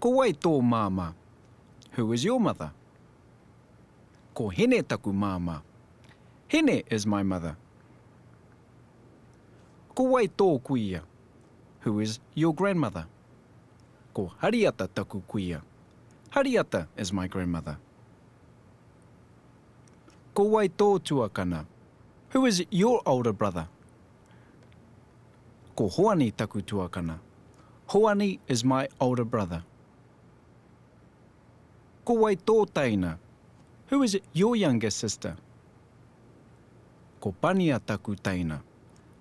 Ko wai tō māmā? Who is your mother? Ko Hine taku māmā. Hine is my mother. Ko wai tō kuia? Who is your grandmother? Ko Hariata taku kuia. Hariata is my grandmother. Ko wai tō tuakana? Who is your older brother? Ko Hoani taku tuakana. Hoani is my older brother. Ko wai tō teina? Who is your younger sister? Ko Pania taku teina.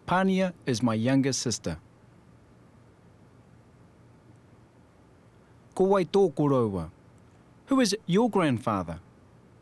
Pania is my younger sister. Ko wai tō koroua? Who is your grandfather?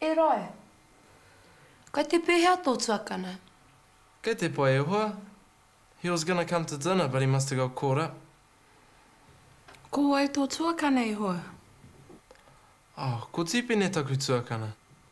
E Rae! Kai te pehea tō tuakana? Kei te pai e hoa. He was gonna come to dinner but he must have got caught up. Ko wai tō tuakana e hoa? Oh, ko Tīpene taku tuakana.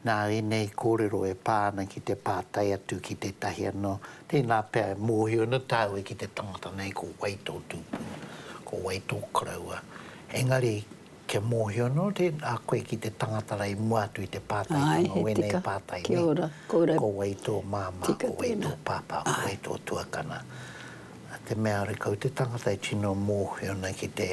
Nā ēnei kōrero e pā ana ki te pātai atu ki tētahi anō, tēnā pea e mōhio ana tāu e ki te tangata nei ko wai tō tūpuna, ko wai tō koroua. Engari, kia mōhio anō a koe ki te tangata rā i mua atu i te pātaitanga o ēnei pātai nei, ko wai tō māmā, ko wai tō pāpā, ko wai tō tuakana. Te mea rākau, te tangata e tino mōhio ana ki te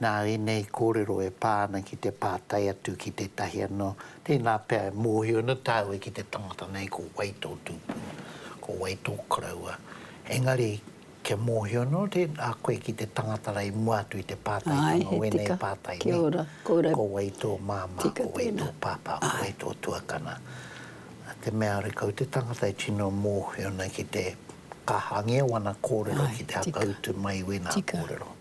Nā ēnei kōrero e pā ana ki te pātai atu ki tētahi anō, tēnā pea e mōhio ana tāu e ki te tangata nei ko wai tō tūpuna, ko wai tō koroua. Engari, kia mōhio anō a koe ki te tangata rā i mua atu i te pātaitanga o ēnei pātai nei, ko wai tō māmā, ko wai tō pāpā, ko wai tō tuakana. Nā te mea āre kau te tangata e tino mōhio ana ki te kaha angia wana kōrero ki te hakautu mai i wēnā kōrero.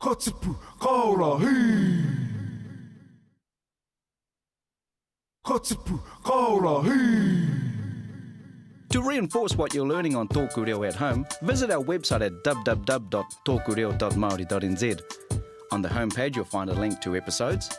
Ka tipu, ka ora, hī! Ka tipu, ka ora, hī! To reinforce what you're learning on Tōku Reo at home, visit our website at www.tokureo.maori.nz. On the home page you'll find a link to episodes,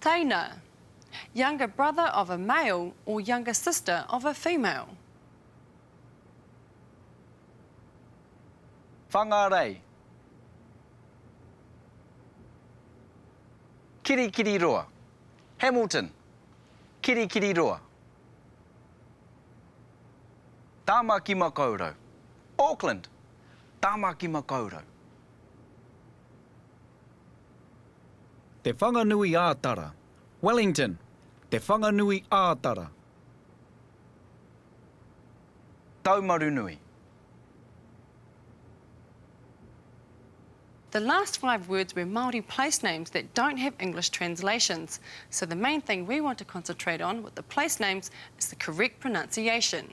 Teina, younger brother of a male or younger sister of a female. Whangarei, Kirikiriroa. Hamilton, Kirikiriroa. Tāmakimakaurau, Auckland, Tāmakimakaurau. Te Whanganui ā Tara. Wellington, Te Whanganui ā Tara. Taumarunui. The last five words were Māori place names that don't have English translations, so the main thing we want to concentrate on with the place names is the correct pronunciation.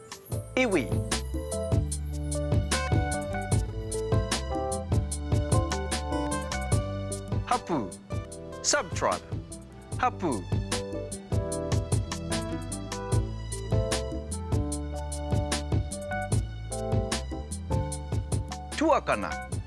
Iwi. Hapū, subtribe, hapū. Tuakana.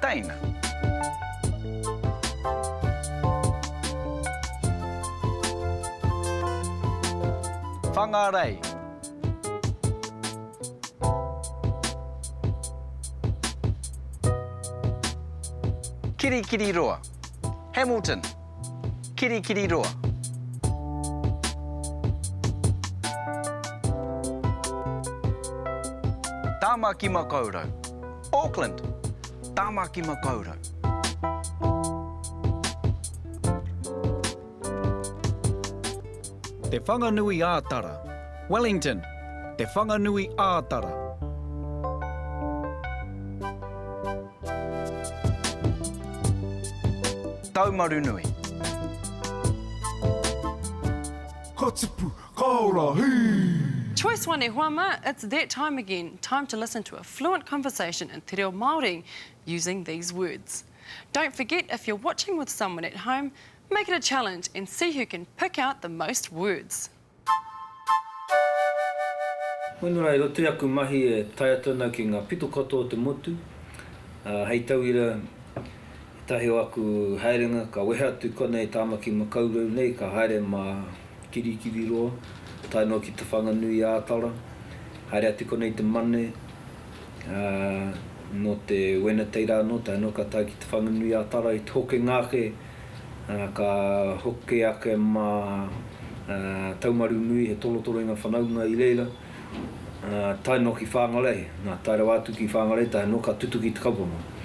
Teina. Whangarei. Kirikiriroa. Hamilton. Kirikiriroa. Tamaki Makaurau. Auckland, Tamaki Makaurau. Te Whanganui ā Tara, Wellington, Te Whanganui ā Tara. Taumarunui. Kotupu, Kaora, hii! Choice one e hoa ma, it's that time again, time to listen to a fluent conversation in te reo Māori using these words. Don't forget if you're watching with someone at home, make it a challenge and see who can pick out the most words. Honua, e roto i aku mahi e tae atu ana ki ngā pito katoa o te motu, ā, hei tauira, Ētahi o aku haerenga ka wehe atu konei Tāmaki Makaurau nei ka haere mā Kirikiriroa tae noa ki Te Whanganui-ā-Tara, haere atu konei i te Mane, ā, nō te Wenatei rā anō tae noa ka tae ki Te Whanganui-ā-Tara i te hokenga ake, ā, ka hoki ake mā Taumarunui he tolotoloinga whanaunga i reira. tae noa ki Whangarei, nā, tae rawa atu ki Whangarei tae noa ka tutuki te kaupapa.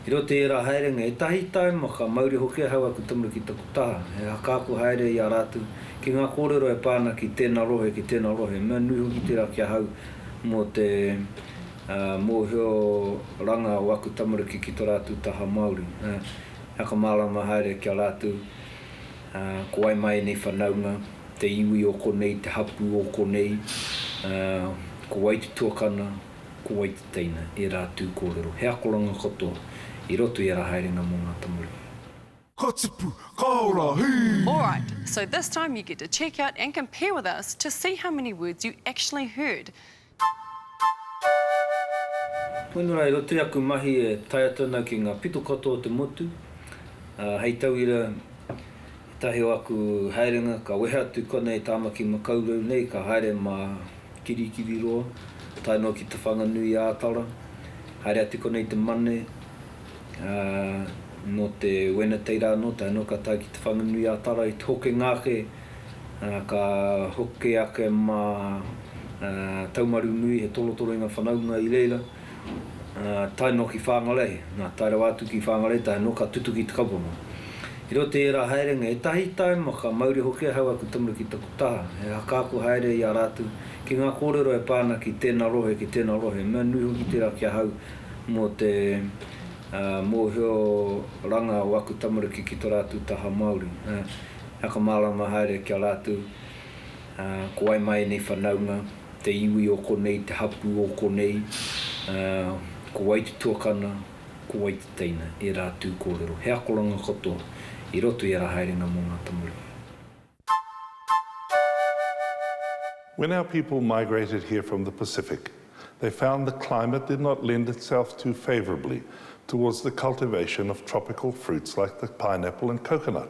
I roto i ērā haerenga, ētahi taima ka mauri hoki ahau aku tamariki i taku taha, he hakaako haere i a rātou ki ngā kōrero e pā ana ki tēnā rohe, ki tēnā rohe, he mea nui hoki tērā ki ahau mō te mōhioranga o aku tamariki ki tō rātou taha Māori, he whakamārama haere ki a rātou ko wai mā ēnei whanaunga. te iwi o konei, te hapū o konei, ā, ko wai te tuakana, ko wai te teina, ērā tū kōrero, he akoranga katoa i roto i ērā haerenga mō ngā tamariki. Ka tipu, ka ora, hī! Alright, so this time you get to check out and compare with us to see how many words you actually heard. Punua e roto i aku mahi e tae atu ana ki ngā pito katoa o te motu, ā, hei tauira, ētahi o aku haerenga ka wehe atu konei Tāmaki Makaurau nei ka haere mā Kirikiriroa tae noa ki Te Whanganui-ā-Tara, haere atu konei te Mane, ā, nō te Wenatei rā anō tae noa ka tae ki Te Whanganui-ā-Tara i te hokenga ake Ka hoki ake mā Taumarunui he tolotoloinga whanaunga i reira, tae noa ki Whangarei, nā, tae rawa atu ki Whangarei, tae noa ka tutuki i te kaupapa. I roto i ērā haerenga, ētahi taima ka mauri hoki ahau aku tamaru ki taku taha, he hakaako haere i a rātou ki ngā kōrero e pā ana ki tēnā rohe, ki tēnā rohe. He mea nui hoki tērā ki ahau mō te mōhioranga o aku tamariki ki tō rātou taha Māori. Whakamārama haere ki a rātou, ā, ko wai mā ēnei whanaunga, te iwi o konei, te hapū o konei, ā, ko wai te tuakana, ko wai te teina, ērā tū kōrero, he akoranga katoa i roto i ērā haerenga mō ngā tamariki. When our people migrated here from the Pacific, they found the climate did not lend itself too favourably towards the cultivation of tropical fruits like the pineapple and coconut.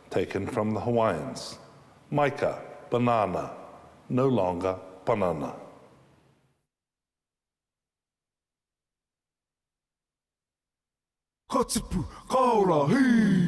taken from the Hawaiians, maika, banana, no longer panana. Ka tipu, ka ora, hī!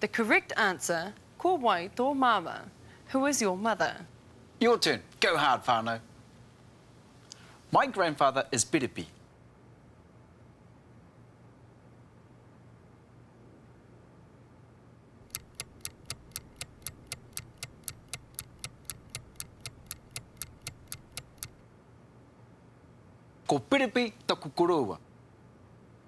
The correct answer Ko wai tō māma? Who is your mother? Your turn! Go hard, whānau! My grandfather is Berepi. Ko Berepi taku koroua.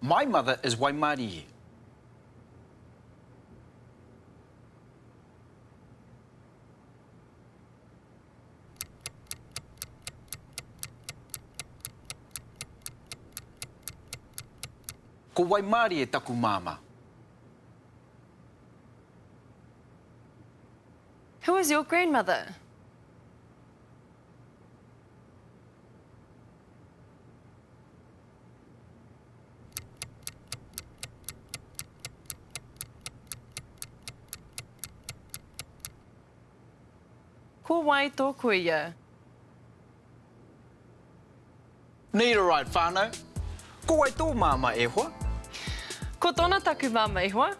My mother is Waimarie. Ko Waimarie taku māmā. Who is your grandmother? Ko wai tō kuia? Need a ride whānau? Ko wai tō māma e hoa? Ko tōna taku māma e hoa?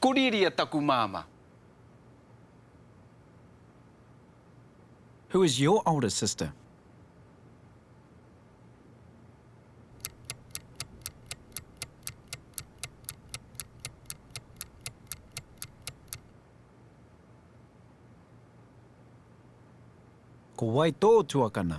Ko Riria taku māmā. Who is your older sister? Ko wai tō tuakana?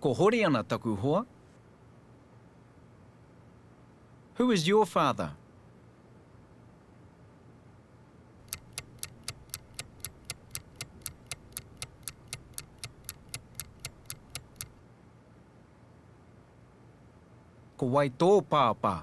Ko Horiana taku hoa. Who is your father? Ko wai tō pāpā?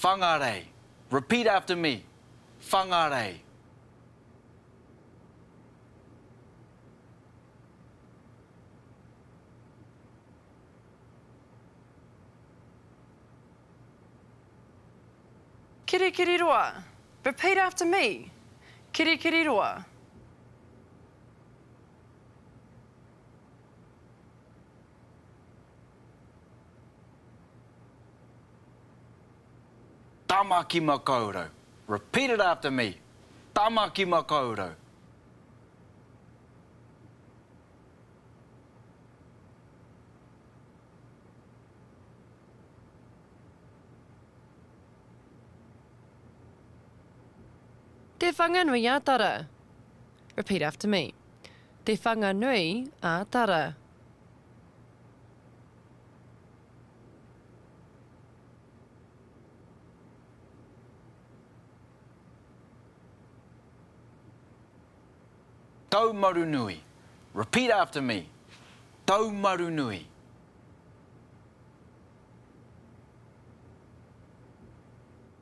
Whangarei Repeat after me, Whangarei. Kirikiriroa Repeat after me, Kirikiriroa. Tamaki Makaurau Repeat it after me Tamaki Makaurau Te Whanganui-a-Tara Repeat after me. Te Whanganui a Tara. Taumarunui Repeat after me, Taumarunui.